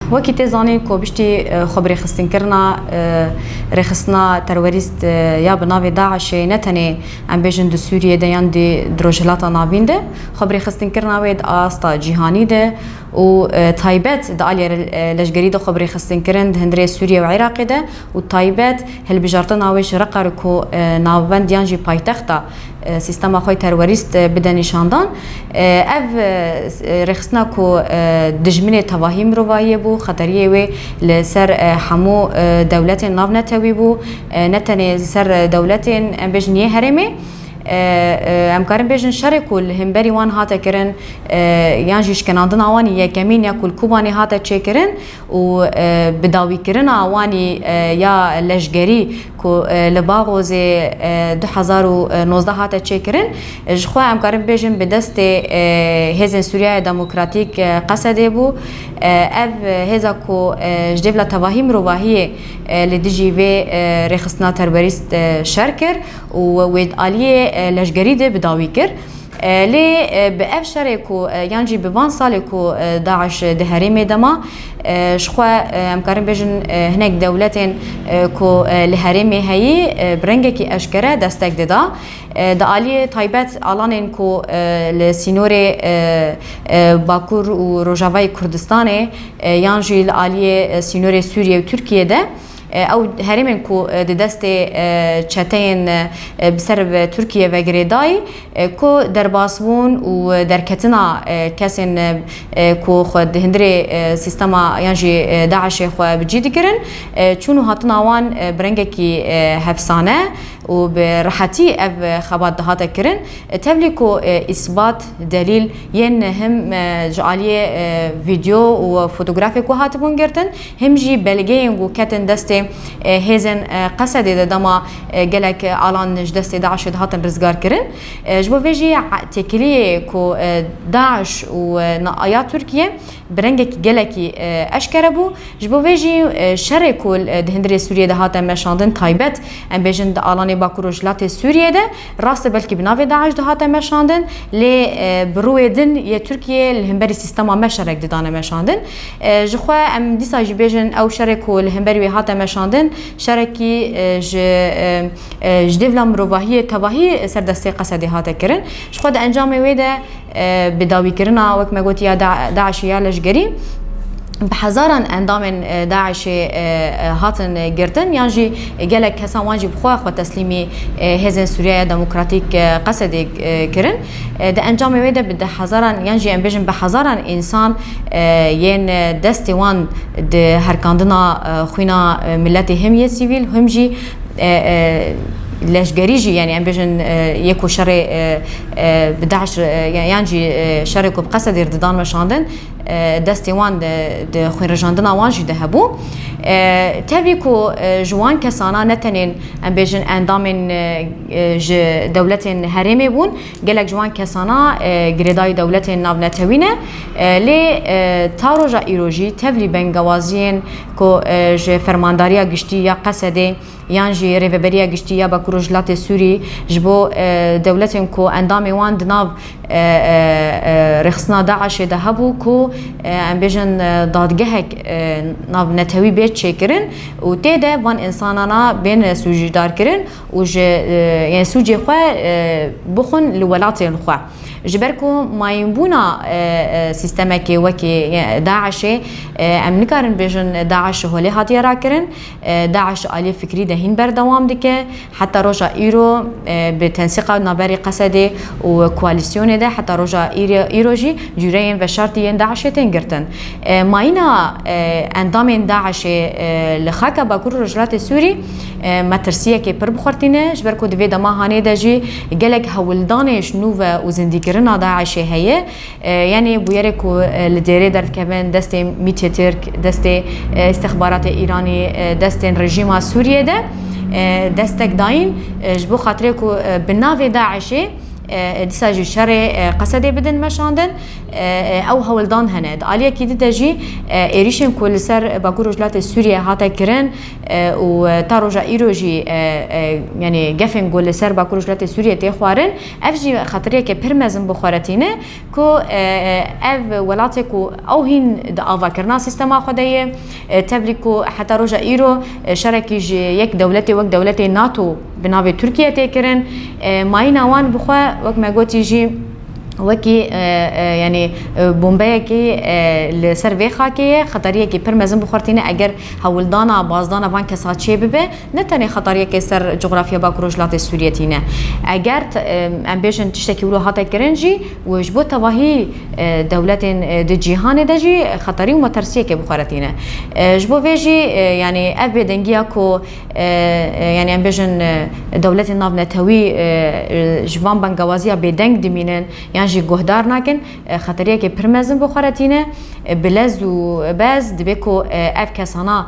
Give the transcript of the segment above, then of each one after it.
Wekî tê zanîn ku piştî xwebirêxistinnkirina rêxistina terwerîst ya bi navê DAIŞ'ê ne tenê em bêjin di Sûriyê de yan di di Rojhilata Navîn de, xwebirêxistinnkirina wê di asta cîhanî de û taybet di aliyê leşgerî de xwebirêxistinkirin di hundirê Sûriye û Iraqê de, û taybet hilbijartina wê ji Reqer ku navbend yan jî paytexta sîstema xwe terwerîst bide nîşandan. Ev rêxistina ku dijminê tevahî mirovahiyê bû, xeteriyê wê li ser hemû dewletên navnetewî bû, ne tenê li ser dewletên em bêjin yê herêmê. Em karin bêjin şerê ku li hemberî wan hate kirin yan jî şkenandina wan yekemîn ya ku li Kobanê hate çêkirin û bi dawîkirina wanî ya leşgerî ku li Baghozê du hezar û nozdeh hate çêkirin, ji xwe em karin bibêjin bi destê Hêzên Sûriyaya Demokratîk Qesedê bû. Ev hêza ku ji dê bila tevahî mirovahiyê li dijî vê rêxistina terorîst şer kir û wê di aliyê leşgerî de bi dawî kir. Lê bi ev şerê ku yan jî bi van salê ku DAIŞ di herêmê de ma, ji xwe em karin bêjin hinek dewletên ku li herêmê heyî bi rengekî eşkere destek dida. Di aliyê taybet alanên ku li sînorê Bakur û Rojavayê Kurdistanê yan jî li aliyê sînorê Sûriye û Tirkiyê de, Ew herêmên ku di destê çeteyên bi ser ve Tirkiye ve girêdayî ku derbas bûn û derketina kesên ku xwe di hundirê sîstema yan jî DAIŞ'ê xwe bi cî dikirin, çûn û hatina wan bi rengekî hefsane û bi rehetî ev xebat dihate kirin. Tevlî ku îsbat, delîl, yên him ji aliyê vîdeo û fotografê ku hatibûn girtin, Him jî belgeyên ku ketin destê hêzên Qesedê de dema gelek alan ji destê DAIŞ'ê dihatin rizgarkirin. Ji bo vê jî têkiliyê ku DAIŞ û ya Tirkiye bi rengekî gelekî eşkere bû. Ji bo vê jî şerê ku di hundirê Sûriyê de hate meşandin taybet em bêjin di alanê Bakur Rojhilatê Sûriyê de, Rast e belkî bi navê DAIŞ dihate meşandin lê bi rûyê din yê Tirkiyeyê li hemberî sîstema me şerek didane meşandin. Ji xwe em dîsa jî bêjin ew şerê ku li hemberî wê hate meşandin şerekî ji ji dêvla mirovahiyê tevahî ser destê Qesedê hate kirin. Ji xwe di encamê wê de Bi dawîkirina wek me got ya DAIŞ û ya leşgerî bi hezaran endamên DAIŞê hatin girtin yan jî gelek kesan wan jî bi xwe xwe teslîmî hêzên Sûriya ya Demokratîk Qesedê kirin. Di encamê wê de bi di hezaran yan jî em bêjin bi hezaran însan yên destê wan di herkandina xwîna miletê him yê sîvîl him jî leşgerî jî yanî em bêjin yê ku şerê Bi DAIŞ re yan jî şerê ku bi qesedê re didan weşandin destê wan di xwênrijandina wan jî de hebû. Tevî ku ji wan kesana ne tenê em bêjin endamên ji dewletên herêmê bûn, gelek ji wan kesana girêdayî dewletên navnetewî ne. Lê ta roja îro jî tevlî bengewaziyên ku ji Fermandariya Giştî ya Qesedê, yan jî Rêveberiya Giştî ya Bakur Rojhilatê Sûrî ji bo dewletên ku endamê wan di nav rêxistina DAIŞ'ê de hebû ku em bêjin dadgehek nav netewî bê çêkirin û tê de van însanana bên sûcdarkirin û ji yên sûcê xwe bixwin li welatên xwe. Ji ber ku mayînbûna sîstemekê wekî DAIŞ'ê em nikarin bêjin DAIŞ ji holê hatiye rakirin. DAIŞ aliyê fikrî de hîn berdewam dike. Heta roja îro bi tensiqa naberî Qesedê û koalîsyonê de heta roja îro jî cûreyên veşartî yên DAIŞê tên girtin. Mayîna endamên DAIŞê li xaka Bakurê Rojhilatê Sûrî me tirsiyekê pir bi xwe re tîne ji ber ku di vê dema hanê de jî gelek hewldanê ji nû ve û zindîkirina DAIŞê heye. Yanî bûyerê ku li dêrê derdikevin destê mîtê Tirk, destê îstixbaratê Îranî, destên rejîma Sûriyê de destek dayîn ji bo xatirê ku bi navê DAIŞ'ê dîsa jî şerê Qesedê bidin meşandin ew hewldan hene. Di aliyekî di de jî êrîşên ku li ser Bakur Rojhilatê Sûriyê hate kirin û ta roja îro jî yanî gefên ku li ser Bakur Rojhilatê Sûriyê tê xwarin, Ev jî xatiriyeke pir mezin bo xwe re tîne ku ev welatê ku ew hîn di avakirina sîstema xwe de ye, tevlî ku heta roja îro şerekî ji yek dewletê wek dewletê nato bi navê Tirkiye tê kirin, mayîna wan bi xwe wek me gotî jî wekî yanî bombeyekî li ser vê xakê ye, xatariyekî pir mezin bi xwe re tîne eger hewildana, bazdana van kesaçiyê bibe. ne tenê xetariyekê ser coğrafya bak û rojhilatê Sûriyê tîne. Eger em bêjin tiştekî wilo hate kirin jî û ji bo tevahî dewletên di cîhanê de jî xetarî û matersiyekê bi xwe re tîne. Ji bo vê jî yanî ev bêdengiya ku yanî em bêjin dewletên navnetewî ji van bengewaziya bêdeng dimînin yan jî guhdar nakin xetariyekê pir mezin bi xwe re tîne. Bi lez û bez dibê ku ev kesana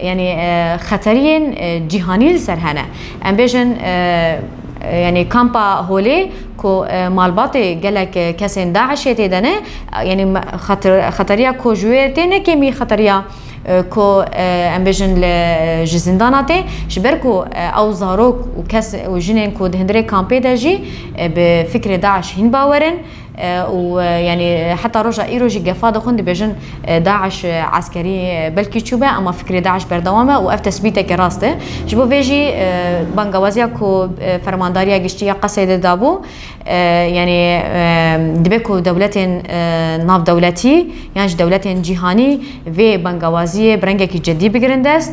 Yanî xeteriyên cîhanî li ser hene. Em bêjin yanî kampa Holê ku malbatê gelek kesên DAIŞ'ê tê de ne, yanî xeteriya ku ji wê tê ne kêmî xeteriya ku em bêjin li ji zîndana tê. Ji ber ku ew zarok û kes û jinên ku di hundirê kampê de jî bi fikrê DAIŞ hîn bawer in. û yanî heta roja îro jî gefa dixwin dibêjin DAIŞ eskerî belkî çûbe ema fikrê DAIŞ berdewam e û ev tesbîtekî rast e. Ji bo vê jî bangawaziya ku Fermandariya Giştî ya Qeseydê dabû yanî dibe ku dewletên navdewletî yan jî dewletên cîhanî vê bangawaziyê bi rengekî cidî bigirin dest.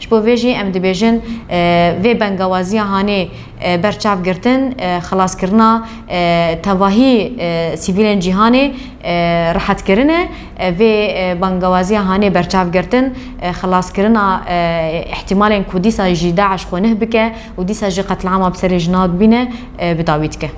Ji bo vê jî em dibêjin vê bengawaziya hanê ber çav girtin, xelaskirina tevahî sivîlên cîhanê rehetkirin e. Vê bengawaziya hanê berçav girtin, xelaskirina îhtîmalên ku dîsa jî DAIŞ xwe nih bike û dîsa jî qetlîama bi serê jinan bîne bi dawî dike.